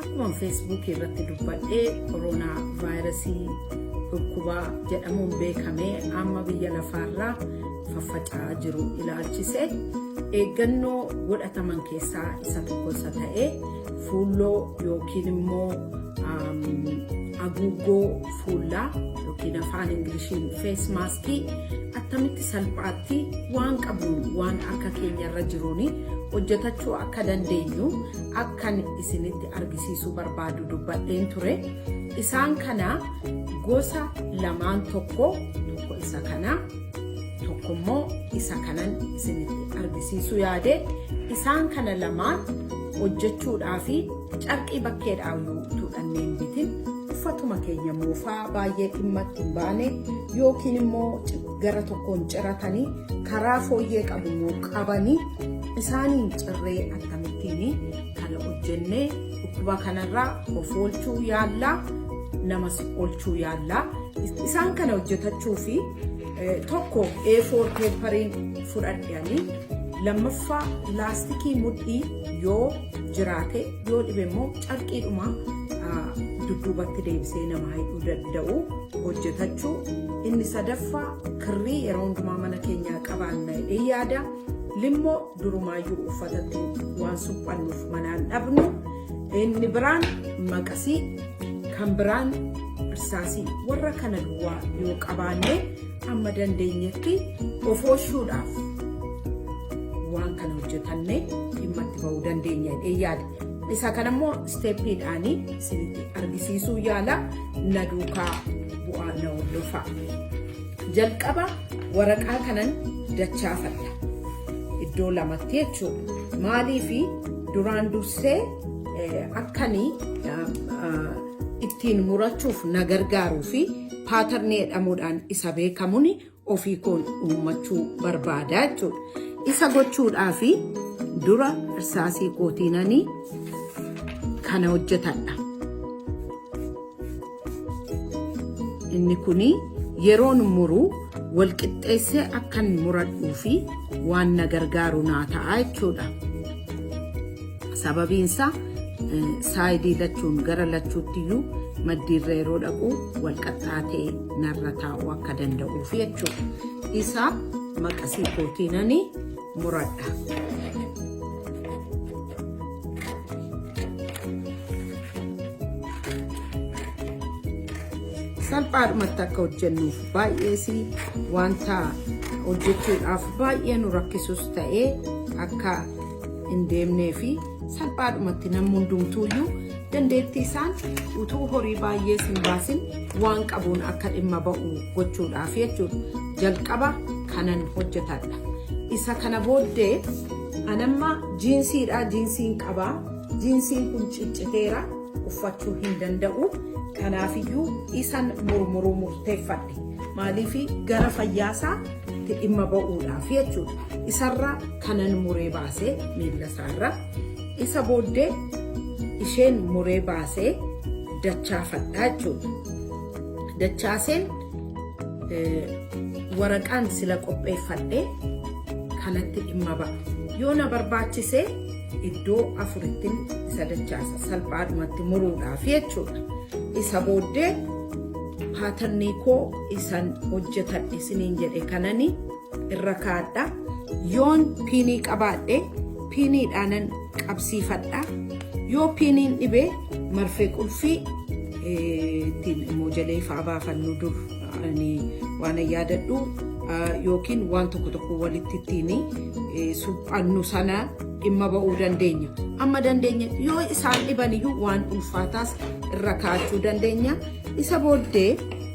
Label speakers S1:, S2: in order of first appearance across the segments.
S1: Akkuma feesbuukii irratti dubbadhe koroonaa vaayirasii dhukkubaa jedhamuun beekamee amma biyya lafaarraa faffaca'aa jiru ilaalchise eeggannoo godhataman keessaa isa tokko isa ta'e fuulloo yookiin immoo haguuggoo fuullaa yookiin afaan ingiliishiin fees maaskii attamitti salphaatti waan qabnu waan akka keenyarra jiruun hojjetachuu akka dandeenyu akkan isinitti argisiisuu barbaadu dubbadheen ture isaan kana gosa lamaan tokko tokko isa kana tokko immoo isa kanan isinitti argisiisuu yaade isaan kana lamaan hojjechuudhaa fi carqii bakkeedhaa utuu dhanneen bitin uffatuma keenya moofaa baay'ee dhimmatti hin baane yookiin immoo gara tokkoon ciratanii karaa fooyyee qabu immoo qabanii Isaaniin cirree akkamittiin kana hojjennee dhukkuba kanarraa of oolchuu yaallaa namas oolchuu yaallaa. Isaan kana hojjetachuu fi tokko A4 peepariin fudhadhanii lammaffaa laastikii mudhii yoo jiraate yoo dhibe immoo carqiidhuma dudduubatti deebisee nama hidhuu danda'u hojjetachuu. Inni sadaffaa kirrii yeroo hundumaa mana keenyaa qabaanna yaada. Limmoo durumaayyuu uffatatti waan suphannuuf manaan dhabnu inni biraan maqasii kan biraan irsaasii warra kana duwwaa yoo qabaanne amma dandeenyetti of oolchuudhaaf waan kana hojjetanne dhimma itti ba'uu dandeenya jedhee yaada. Isa kana immoo isteeppiidhaanii isinitti argisiisuu yaala na duukaa bu'aa na hordofaa. Jalqaba waraqaa kanan dachaafadha. Iddoo lamatti jechuudha. Maaliif duraan dursee akkanii ittiin murachuuf na gargaaruu fi paatarnii jedhamuudhaan isa beekamuun ofii koon uummachuu barbaada jechuudha. Isa gochuudhaaf dura irsaasii kootiinanii kana hojjetadha. Inni kun yeroon muru walqixxeessee akkan muradhuu fi waan na gargaaru naa ta'a jechuudha. Sababiin isaa saayidii lachuun gara lachuutti iyyuu maddiirra yeroo dhaqu walqaxxaatee narra taa'uu akka danda'uuf jechuudha. Isa maqasii kootiinanii muradha. salphaadhumatti akka hojjennuuf baay'ee si wanta hojjechuudhaaf baay'ee nu rakkisus ta'ee akka hin deemnee fi salphaadhumatti namni hundumtuuyyuu dandeettii isaan utuu horii baay'ee sin baasin waan qabuun akka dhimma ba'u gochuudhaaf jechuudha jalqaba kanan hojjetadha. Isa kana booddee anamma jiinsiidha jiinsiin qabaa jiinsiin kun cicciteera uffachuu hin danda'u kanaafiyyuu isan murmuruu murteeffadhe maaliif gara fayyaasaa itti dhimma ba'uudhaaf jechuudha isarra kanan muree baasee miila isaarra isa booddee isheen muree baasee dachaafadha jechuudha. Dachaaseen waraqaan sila qopheeffadhe kanatti dhimma ba'a. Yoo na barbaachise iddoo afurittin isa dachaasa salphaadhumatti muruudhaaf jechuudha. Isa booddee paatannii koo isan hojjetadhe isiniin jedhe kananii irra kaadha yoon piinii qabaadhe piiniidhaanan qabsiifadha yoo piiniin dhibee marfee qulfii ittiin immoo jalee fa'aa baafannu dur waan yaadadhu yookiin waan tokko tokko walitti ittiin suphannu sana dhimma ba'uu dandeenya. Amma dandeenya yoo isaan dhibaniyyuu waan ulfaataas irra kaa'achuu dandeenya. Isa booddee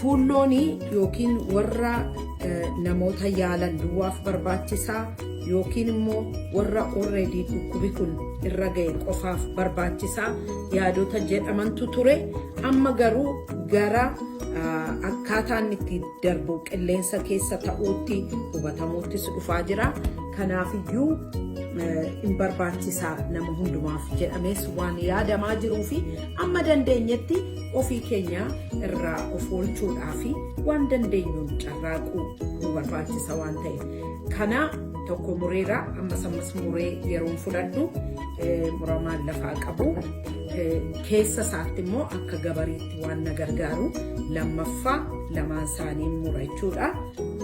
S1: Fuulloonii yookiin warra namoota yaalan duwwaaf barbaachisaa yookiin immoo warra already dhukkubi kun irra ga'e qofaaf barbaachisaa yaadota jedhamantu ture. Amma garuu gara akkaataan itti darbu qilleensa keessa ta'uutti hubatamuuttis dhufaa jira. Kanaafiyyuu hin barbaachisaa nama hundumaaf jedhamees waan yaadamaa jiruu fi amma dandeenyetti ofii keenya irraa of oolchuudhaa fi waan dandeenyuun carraaquu nu barbaachisa waan ta'eef. Kana tokko mureera ammas ammas muree yeroon fudhadhu muramaan lafaa qabu keessa isaatti immoo akka gabariitti. waan na gargaaru lammaffaa lamaan isaanii mura jechuudha.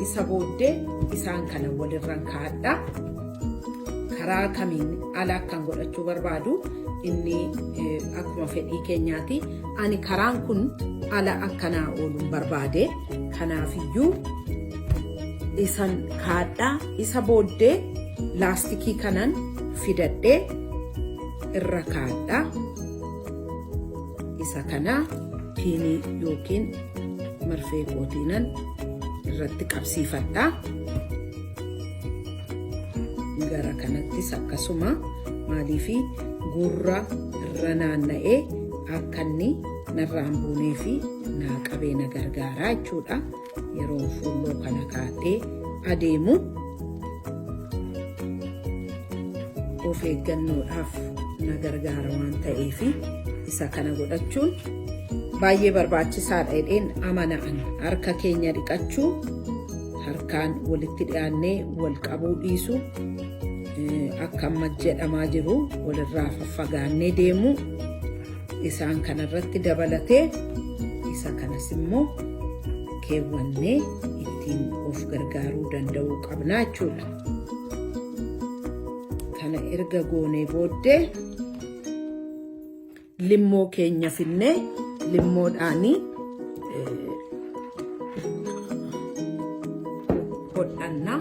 S1: Isa booddee isaan kana walirran kaa'adha. Karaa kamiin ala akkan godhachuu barbaadu inni akkuma fedhii keenyaati. Ani karaan kun ala akkanaa ooluun barbaade. Kanaafiyyuu isan kaa'adha. Isa booddee laastikii kanan fidadhee irra kaa'adha. isa kana piinii yookiin marfee kootiinan irratti qabsiifadha. Gara kanattis akkasuma maaliif gurra irra naanna'ee akka inni narraan buunee fi naa qabee na gargaaraa jechuudha. Yeroon fuulloo kana kaadhee adeemu of eeggannoodhaaf na gargaara waan ta'eef isa kana godhachuun baay'ee barbaachisaadha jedheen amana'an harka keenya dhiqachuu harkaan walitti dhiyaannee wal qabuu dhiisu akka amma jedhamaa jiru walirraa faffagaannee deemuu. isaan kanarratti dabalatee isa kanas immoo keewwannee ittiin of gargaaruu danda'uu qabna jechuudha. Kana erga goonee booddee limmoo keenya finnee limmoodhaanii hodhannaa.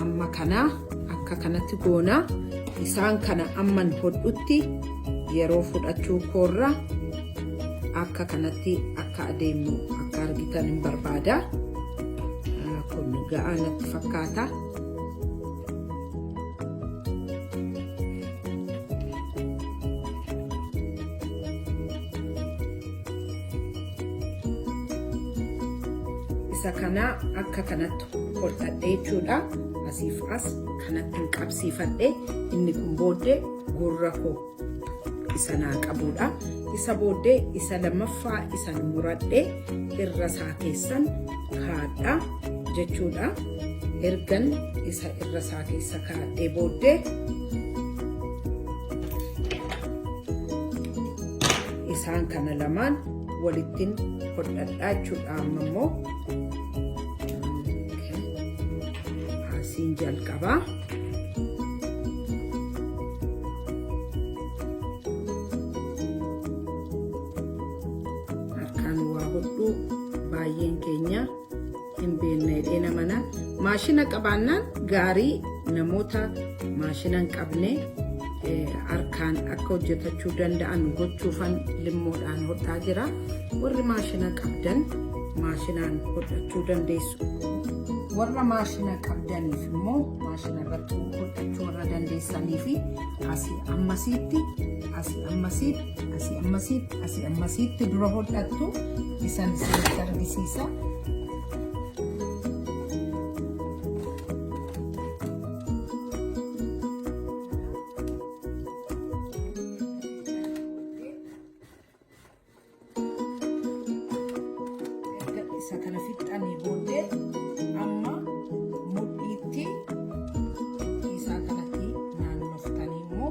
S1: amma kana akka kanatti goona isaan kana amman hodhutti yeroo fudhachuu koorra akka kanatti akka adeemu akka argitan hin barbaada kun ga'aa natti fakkaata isa kana akka kanatti koltadhe jechuudha asiif as kanatti qabsiifadhe inni kun booddee gurra koo isa naa qabuudha isa booddee isa lammaffaa isan muradhe irra isaa keessan kaadha jechuudha ergan isa irra isaa keessa kaadhee booddee isaan kana lamaan walittin hodhadhaa jechuudha amma immoo asiin jalqabaa harkaan waa hodhuu baay'een keenya hin beekne jedhee nama na maashina qabaannaan gaarii namoota maashina hin qabne eh, harkaan akka hojjetachuu danda'an gochuufan limmoodhaan hodhaa jira warri maashina qabdan maashinaan hodhachuu dandeessu warra maashina qabdaniif immoo maashina irratti hodhachuu warra dandeessanii fi asii ammasiitti asii ammasiitti Asii ammasiitti asii ammasiitti dura hodhattu isan isinitti argisiisa. Erga isa kana fixxanii booddee amma mudhiitti isaa kanatti naannoftanii immoo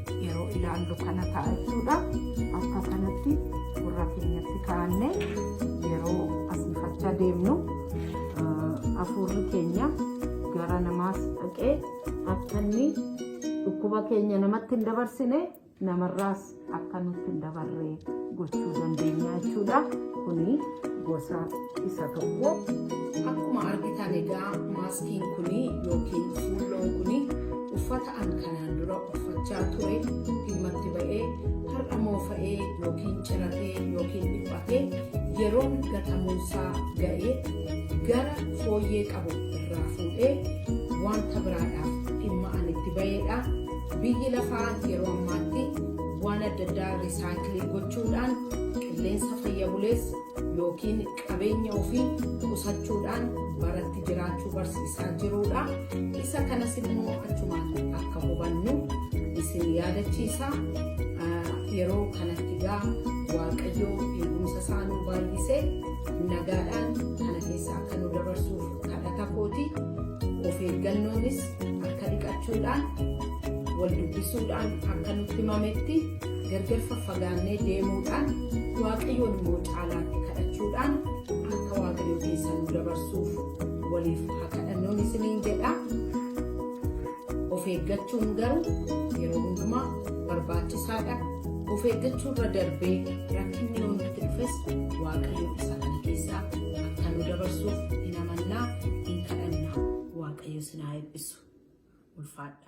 S1: yeroo ilaallu kana ta'a jechuudha. Akka kanatti gurra keenyatti kaa'annee yeroo asiifachaa deemnu hafuurri keenya gara namaas dhaqee akka inni dhukkuba keenya namatti hin dabarsine namarraas akka nutti hin dabarre gochuu dandeenya jechuudha. Kuni gosa isa tokko. Akkuma argitan egaa maaskiin kuni yookiin fuulloon kuni uffata An kanaan dura uffachaa ture dhimmatti ba'ee har'a moofa'ee yookiin ciratee yookiin dhiphatee yeroon gatamuunsaa ga'ee gara fooyyee qabu irraa fuudhee wanta biraadhaaf dhimma an itti ba'eedha. Biyyi lafaa yeroo ammaatti waan adda addaa risaayikilii gochuudhaan qilleensa fayya buleessa yookiin qabeenya ofii qusachuudhaan baratti jiraachuu barsiisaa jiruudha. Isa kanas immoo achumaan akka hubannu isin yaadachiisa. Yeroo kanatti gaa Waaqayyoo eegumsa isaa nu baay'isee nagaadhaan kana keessa akka nu dabarsuuf kadhata kooti. Of eeggannoonis akka dhiqachuudhaan wal dubbisuudhaan akka nutti himametti Gargar faffagaannee deemuudhaan Waaqayyoon immoo caalaatti kadhachuudhaan akka Waaqayyo keessa nu dabarsuuf waliif haa kadhannuun isiniin jedha. Of eeggachuun garuu yeroo hundumaa barbaachisaadha. Of eeggachuu irra darbee rakkinni yoo nutti dhufes Waaqayyo isa kana keessaa akka nu dabarsuuf hin amannaa hin kadhannaa Waaqayyo isin haa eebbisu. Ulfaadha.